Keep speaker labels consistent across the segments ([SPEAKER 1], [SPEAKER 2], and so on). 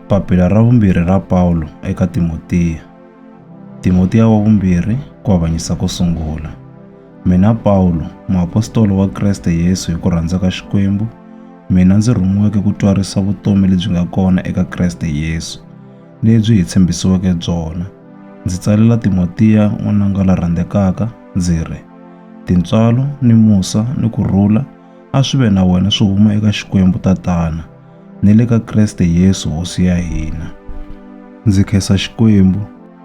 [SPEAKER 1] Papila ra vumbirhi ra Pawulo eka Timotiya. Timotiya wa vumbirhi ku avanyisa ko sungula. Mina Pawulo, muapostolo wa Kreste Yesu hi ku rhandza ka Xikwembu, mina ndzi rhumiweke ku twarisa vutomi lebyi nga kona eka Kreste Yesu, lebyi hi tshembisiweke byona. Ndzi tsalela Timotiya n'wananga la rhandzekaka, ndzi ri, Tintswalo ni musa ni ku rhula A swi ve na wena swi huma eka Xikwembu Tatana ni le ka Kreste Yesu Hosi ya hina. Ndzi khensa Xikwembu,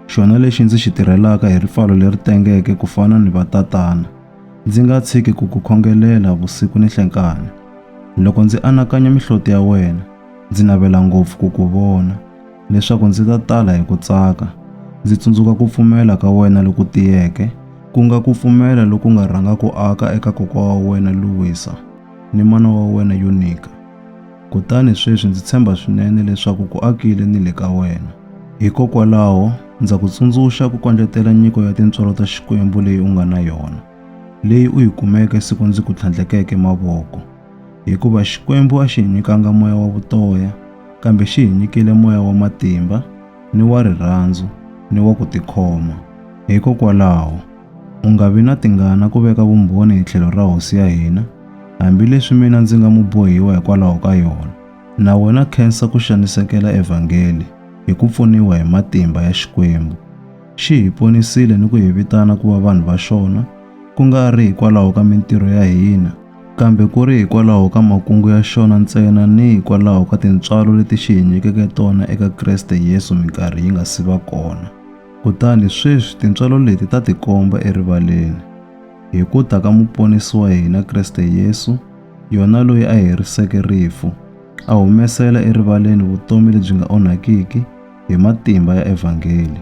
[SPEAKER 1] xona lexi ndzi xi tirhelaka hi ripfalo leri tengeke ku fana ni vatatana, ndzi nga tshiki ku ku khongelela vusiku ni nhlenkani. Loko ndzi anakanya mihloti ya wena, ndzi navela ngopfu ku ku vona. leswaku ndzi ta tala hi ku tsaka, ndzi tsundzuka ku pfumela ka wena loku tiyeke, ku nga ku pfumela loku nga rhanga ku aka eka kokwa wa wena Luwisa ni mana wa wena Yunika. Kutani sweswi ndzi tshemba swinene leswaku ku akile ni le ka wena. Hikokwalaho, ndza ku tsundzuxa ku kondletela nyiko ya tintswalo ta Xikwembu leyi u nga na yona, leyi u yi kumeke siku ndzi ku tlhandlekeke mavoko. Hikuva Xikwembu a xi hi nyikanga moya wa vutoya, kambe xi hi nyikile moya wa matimba, ni wa rirhandzu, ni wa ku tikhoma. Hikokwalaho, u nga vi na tingana ku veka vumbhoni hi tlhelo ra Hosi ya hina, hambileswi mina ndzi nga mubohiwa hikwalaho ka yona, na wena khensa ku xanisekela Evhangeli hi ku pfuniwa hi matimba ya Xikwembu. Xi hi ponisile ni ku hi vitana ku va vanhu va xona, ku nga ri hikwalaho ka mintirho ya hina, kambe ku ri hikwalaho ka makungu ya xona ntsena ni hikwalaho ka tintswalo leti xi hi nyikeke tona eka Kreste Yesu minkarhi yi nga si va kona. Kutani sweswi tintswalo leti ta tikomba erivaleni. Hi ku ta ka Muponisi wa hina Kreste Yesu, yona loyi a heriseke rifu, a humesela erivaleni vutomi lebyi nga onhakiki hi matimba ya evhangeli.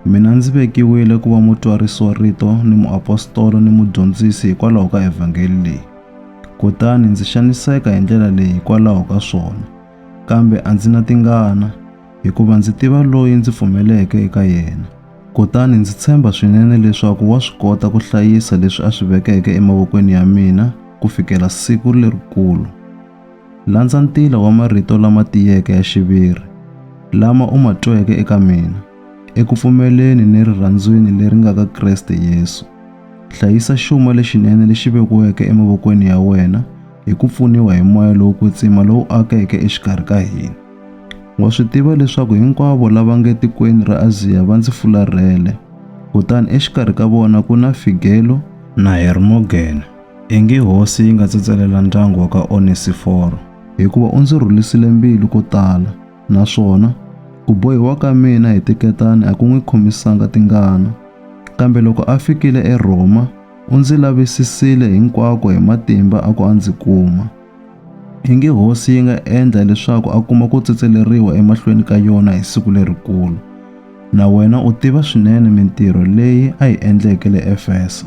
[SPEAKER 1] Mina ndzi vekiwile ku va mutswarisiwa-rito ni muapostolo ni mudyondzisi hikwalaho ka evhangeli leyi. Kutani ndzi xaniseka hi ndlela leyi hikwalaho ka swona, kambe a ndzi na tingana, hikuva ndzi tiva loyi ndzi pfumeleke eka yena. Kutani ndzi tshemba swinene leswaku wa swi kota ku hlayisa leswi a swi vekeke emavokweni ya mina ku fikela siku lerikulu. Landza ntila wa marito lama tiyeke ya xiviri lama u ma tweke eka mina, eku pfumeleni ni rirhandzwini leri nga ka Kreste Yesu. Hlayisa xuma lexinene lexi vekiweke emavokweni ya wena hi ku pfuniwa hi moya lowo kwetsima lowu akeke exikarhi ka hina. Wa swi tiva leswaku hinkwavo lava nge tikweni ra Aziya va ndzi fularhele, kutani exikarhi ka vona ku na Figelo na Hermogene. Ingi hosi yi nga tsetselela ndyangu wa ka Onesiforo. Hikuva u ndzi rhulisile mbilu ko tala, naswona ku bohiwa ka mina hi tiketani a ku n'wi khomisanga tingana. Kambe loko a fikile eRhoma, u ndzi lavisisile hinkwako hi matimba a ku a ndzi kuma. Ingi hosi yi nga endla leswaku a kuma ku tsetseleriwa emahlweni ka yona hi siku lerikulu. Na wena u tiva swinene mintirho leyi a yi endleke le Efesa.